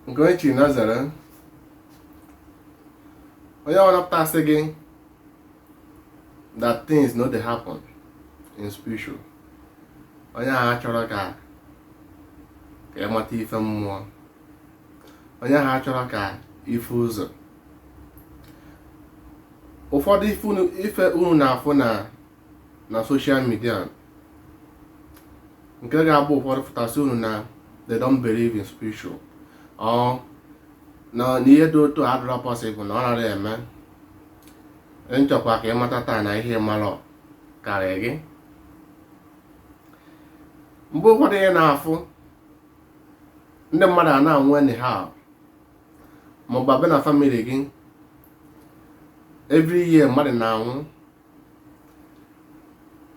nke onye chiri na-ezere onye ọbụna pụta sị gị that things no dey happen in spiritual onye ahụ achọrọ ka ka ị mata ife mmụọ onye ahụ achọrọ ka ị fụ ụzọ ụfọdụ ife unu na-afụ na na social media nke ga-abụ ụfọdụ fụta sị unu na they don't believe in spiritual or na ihe dị otu a adịrọ possible na ọ nara eme m chọkwa ka ị mata taa na ihe ị marọ karịa gị mgbe ụfọdụ ị na-afụ ndị mmadụ a na-anwụ anyhow maọbụ a bịa na family gị every year mmadụ na-anwụ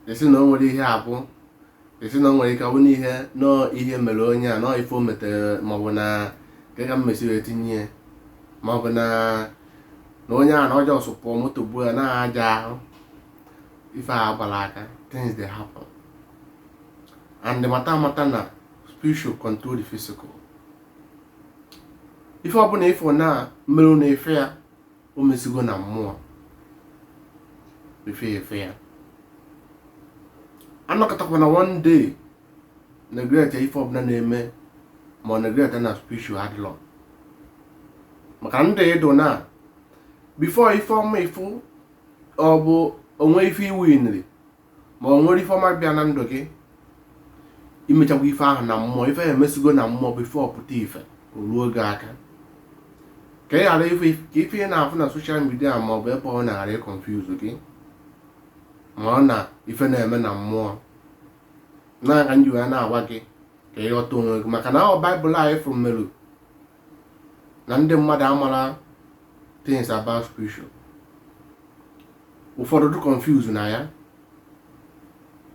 ị sị na o nwere ihe ọ bụ ị sị na o nwere ike ọ bụ na ihe na ọ ihe mere onye a na ọ ife o metere maọbụ na nke ka mmesi wee tinye ya maọbụ na na onye a na ọ just pụọ moto gbuo ya na aja ahụ ife a agbara aka things dey happen and mata mata na spiritual control the physical ife ọbụla ị fụ na merụ n'ife a o mesigo na mmụọ efe efe ya anọkatakwana one day neglect ife ọbụla na-eme maọbụ neglect na spiritual adịrọ maka ndị ịdụ na before ife ọma ị fụ ọ bụ o nwee ife ị winiri ma o nwere ife ọma bịa na ndụ gị imechakwa ife ahụ na mmụọ ife ya emesigo na mmụọ before ọ pụta ife ruo gị aka ka ị ghara ikwe ka ife ị na-afụ na social media ma ọ bụ ebe ọbụna ghara ịconfuse gị ma na ife na-eme na mmụọ ya ka m ji wee na-agwa gị ka ị ghọta onwe gị maka na ọ Bible anyị fụrụ merụ na ndị mmadụ amara things about spiritual ụfọdụ dị confuse na ya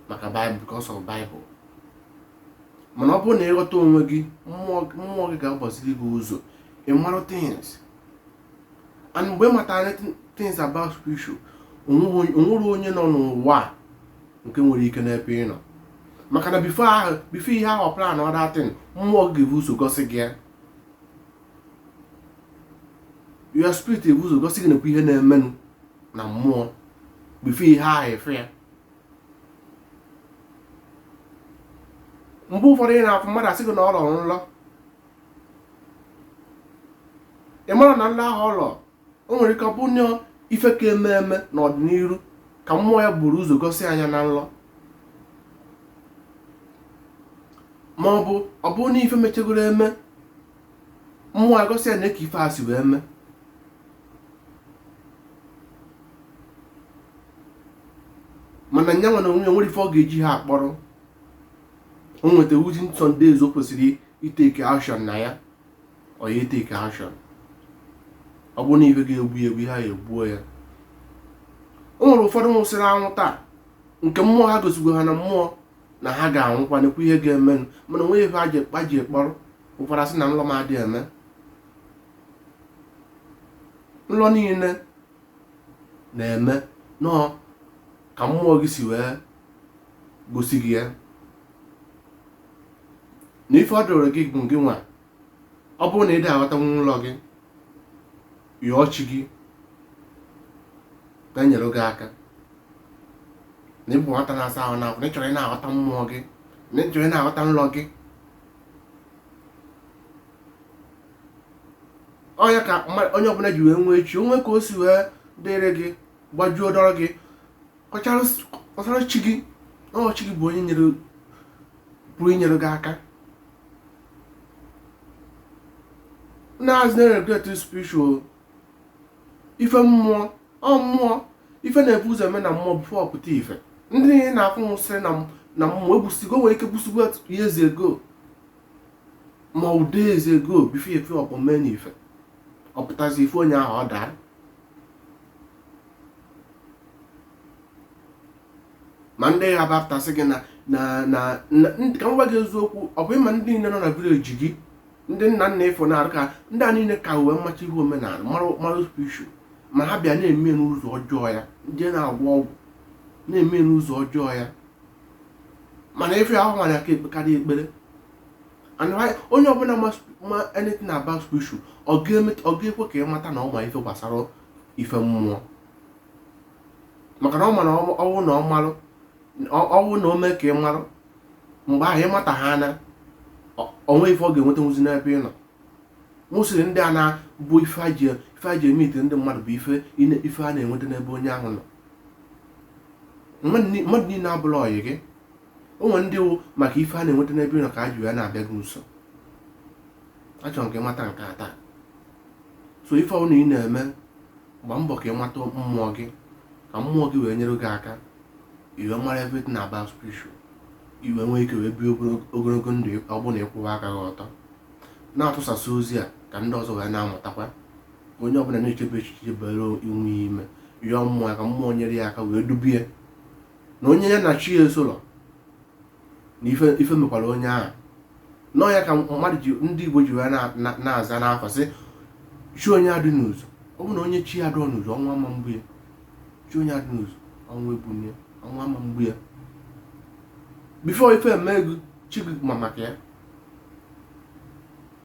maka Bible because of Bible mana ọ bụrụ na ị ghọta onwe gị mmụọ gị ga-agbaziri gị ụzọ ị marụ things and mgbe ị matara things about spiritual o nwere onye nọ n'ụwa nke nwere ike n'ebe ị nọ maka na before ahụ before onye ahụ planụọ that thing mmụọ gị ga-ebu ụzọ gosi gị ya your spirit ebu ụzọ gosi gị nekwa ihe na-emenụ na mmụọ before ihe ahụ efe ya mgbe ụfọdụ ị na-afụ mmadụ asị gị na ọ rọrọ nrọ ị mara na nlọ ahụ ọ lọ o nwere ike ọ bụ na ife ka eme eme n'ọdịnihu ka mmụọ ya buru ụzọ gosi nya na nlọ ma ọ bụ ọ bụrụ na ife mechagoro eme mmụọ ya gosi ya na ka ife a si wee mee mana nya nwa na onwe ya nwere ife ọ ga-eji ha akpọrọ o nweta within some days o kwesịrị iteke action na ya ọ ya eteke action ọ bụrụ na ife ga-egbu ya egbuo ya o nwere ụfọdụ nwụsịrị anwụ taa nke mmụọ ha gosigo ha na mmụọ na ha ga-anwụkwa nekwa ihe ga-emenụ mana o nwe ife a ji ekpọrọ ụfọdụ asị na nlọ m adịghị eme nlọ niile na-eme nọọ ka mmụọ gị si wee gosi gị ya na ife ọ dịrị gị bụ gị nwa ọ bụrụ na ị dị aghọtanwu nlọ gị yọọ chi gị ka o nyere gị aka na ị bụ nwata na-asa ahụ n'afọ na ị chọrọ ị na-aghọta mmụọ gị na ị chọrọ ị na-aghọta nlọ gị ọ nya ka onye ọbụla ji wee nwee chi o nwee ka o si wee dịrị gị gbajuo dọrọ gị kọchara chi gị ọ chi gị bụ onye pụrụ inyere gị aka anazịna neglect spiritual ife mmụọ ọ mmụọ ife na-ebu ụzọ eme na mmụọ before ọ pụta ife ndị ị na-afụ nwụsịrị na mmụọ egbusigo nwere ike gbusigo years ago ma ọ days ago before ife ọkpọ mee na ife ọ pụtazi ife onye ahụ ọ daa ma ndị ya bapụtasị gị na na na ka m gwa gị eziokwu ọ bụ ịma ndị niile nọ na village gị ndị nna nna ịfọ na-arụ ka ndị a niile ka uwe mmachi ihe omenala mara spiritual ma ha bịa na-eme n'ụzọ ọjọọ ya ndị na-agwọ ọgwụ na-eme n'ụzọ ọjọọ ya mana ife ahụ nwere aka ekpekarị ekpere and why onye ọbụla ma sp- ma anything about spiritual ọ ga-emet- ọ ga-ekwe ka ị mata na ọ ma ife gbasara ife mmụọ maka na ọ ma na ọ- ọwụ na ọ marụ ọ- ọwụ na o mee ka ị marụ mgbe ahụ ị mata ha na o nwe ife ọ ga-enwetanwuzi n'ebe ị nọ nwụsịrị ndị a na-bụ ife a ji ife a ji emete ndị mmadụ bụ ife ine- ife a na-enweta n'ebe onye ahụ nọ mmadụ niile abụlọ ọyị gị o nwere ndị wụ maka ife a na-enweta n'ebe ị nọ ka a ji wee na-abịa gị nso achọrọ m ka ị mata nke a taa so ife ọbụla ị na-eme gba mbọ ka ị mata mmụọ gị ka mmụọ gị wee nyere gị aka i wee mara everything about spiritual i wee nwee ike wee bie ogologo ndụ ọ bụ na ị kwụwa aka gị ọtọ na-atụsasị ozi a ka ndị ọzọ wee na-amụtakwa onye ọbụla na-echebe echiche bere iwu ya ime yọọ mmụọ ka mmụọ nyere ya aka wee dubie na onye ya na chi ya esolọ na ife mekwara onye ahụ na ọ ya ka mmadụ ji ndị igbo ji wee na-aza n'afa sị chi onye adị n'izu ọ bụ na onye chi ya adịrọ n'izu ọnwụ ama egbu ya chi onye adị n'izu ọnwụ egbuna ya ọnwụ ama egbu ya before ife emee gị chi gị ma maka ya